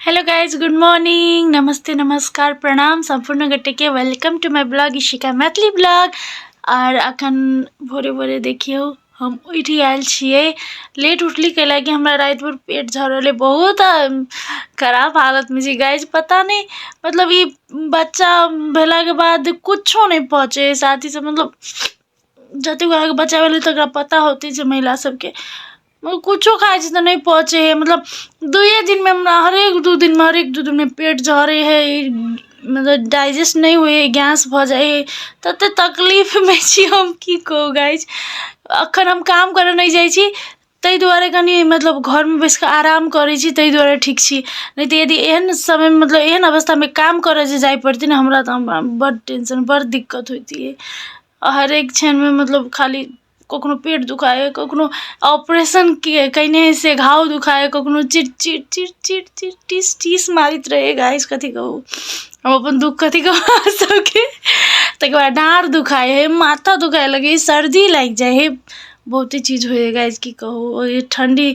hello guys good morning नमस्ते नमस्कार प्रणाम सम्पूर्ण गोटेके welcome to my blog Ishika Maithili blog आर अखन भोरे भोरे देखियौ हम उठि आयल छियै लेट उठली कैला कि हमरा राति भर पेट झरल है बहुत खराब हालत में छी गाइज पता नहीं मतलब ई बच्चा भेला के बाद कुछो नहीं पहुँचे है साथी से मतलब जतेक अहाँके बच्चा भेलै तकरा पता होतै जे महिला सबके मतलब कुछो खाइ छी तऽ नहि पचै हइ मतलब दुइए दिनमे हमरा हरेक दुइ दिनमे हरेक दुइ दिनमे पेट झड़ै हइ मतलब डाइजेस्ट नहि होइ हइ गैस भऽ जाइ हइ ततेक तकलीफमे छी हम कि कहू गाइज एखन हम काम करऽ नहि जाइ छी ताहि दुआरे कनि मतलब घरमे बैसिकऽ आराम करै छी ताहि दुआरे ठीक छी नहि तऽ यदि एहन समयमे मतलब एहन अवस्थामे काम करऽ जे जाइ पड़तै ने हमरा तऽ बड़ टेन्शन बड़ दिक्कत होइतिए हरेक क्षणमे मतलब खाली कखनो पेट दुखाइए कखनो ऑपरेशन किए कएने से घाव दुखाइए कखनो चिर चिर चिर चिर चिर टीस टीस मारैत रहैए गाइस कथी कहू हम अपन दुख कथी कहू अहाँ सबके ताहिके बाद डाँड़ दुखाइ हइ माथा दुखाइ लगैए सर्दी लागि जाइ हइ बहुते चीज होइए गाइस कि कहू ओ ठण्डी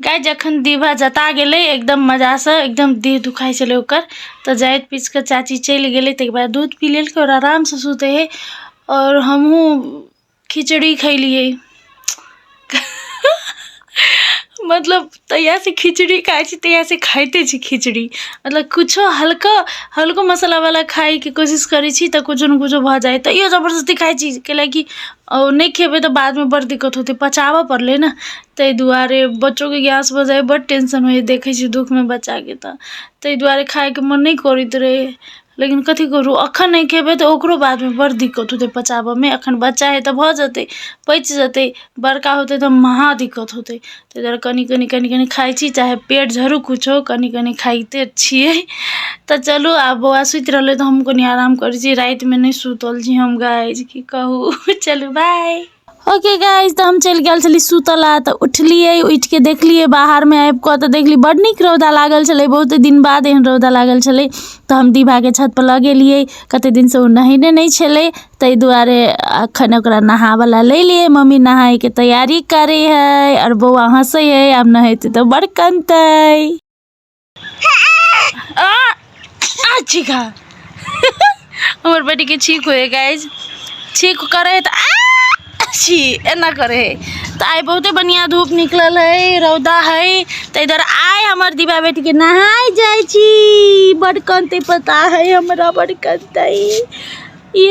गाय जखन दीभा जता गेलै एकदम मजासँ एकदम देह दुखाइ छलै ओकर तऽ जाइत पीस कऽ चाची चलि गेलै ताहिके बाद दूध पी लेलकै आओर आरामसँ सुतै हइ आओर हमहूँ खिचड़ी खैलियै मतलब तहियासँ खिचड़ी खाइ छी तहियासँ खाइते छी खिचड़ी मतलब किछो हल्का हल्को मसालावला खाइके कोशिश करै छी तऽ किछो ने किछो भऽ जाइ तैयो जबरदस्ती खाइ छी कैलाकि ओ नहि खेबै तऽ बादमे बड़ दिक्कत होतै पचाबय पड़लै ने ताहि दुआरे बच्चोके गैस भऽ जाइए बड्ड टेंशन होइए देखैत छियै दुःखमे बच्चाके तऽ ताहि दुआरे खाइके मन नहि करैत रहैए लेकिन कथी करू एखन नहि खेबै तऽ ओकरो बादमे बड़ दिक्कत होतै पचाबयमे एखन बच्चा अइ तऽ भऽ जेतै पचि जेतै बड़का होतै तऽ महा दिक्कत होतै ताहि दुआरे कनी कनी कनी कनी खाइत छी चाहे पेट झरू किछो कनी कनी खाइते छियै तऽ चलू आब बौआ सुति रहलै तऽ हमहूँ कनी आराम करैत छी रातिमे नहि सुतल छी हम गाइ की कहू चलू बाय ओके गाइज तऽ हम चलि गेल छली सुतल आ तऽ उठलियै उठिके देखलियै बाहरमे आबि कऽ तऽ देखली बड नीक रौदा लागल छलै बहुत दिन बाद एहन रौदा लागल छलै तऽ हम दीभाके छतपर लऽ गेलियै कतेक दिनसँ ओ नहेने नहि छलै ताहि दुआरे एखन ओकरा नहाबयला लेलियै मम्मी नहायके तैयारी करै हइ आओर बौआ हँसै हइ आब नहेतै तऽ बड़ कनतै छिका हमर बेटीके छीक होइए गाइज छीक करै हइ तऽ छी एना करै हइ तऽ आइ बहुते बढ़िआँ धूप निकलल हइ रौदा हइ ताहि दुआरे आइ हमर दिवा बेटीके नहाय जाइ छी बड कनतै पता हइ हमरा बड कनतै ई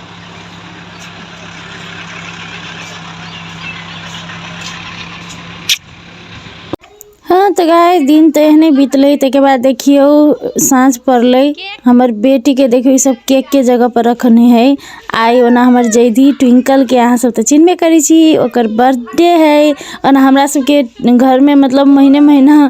हँ तऽ गाय दिन तऽ एहने बितलै ताहिके बाद देखियौ साँझ पड़लै हमर बेटीके देखियौ ईसभ केकके जगहपर रखने हइ आइ ओना हमर जैधी ट्विंकलके अहाँसभ तऽ चिन्हबे करै छी ओकर बर्थडे हइ ओना हमरासभके घरमे मतलब महीने महीना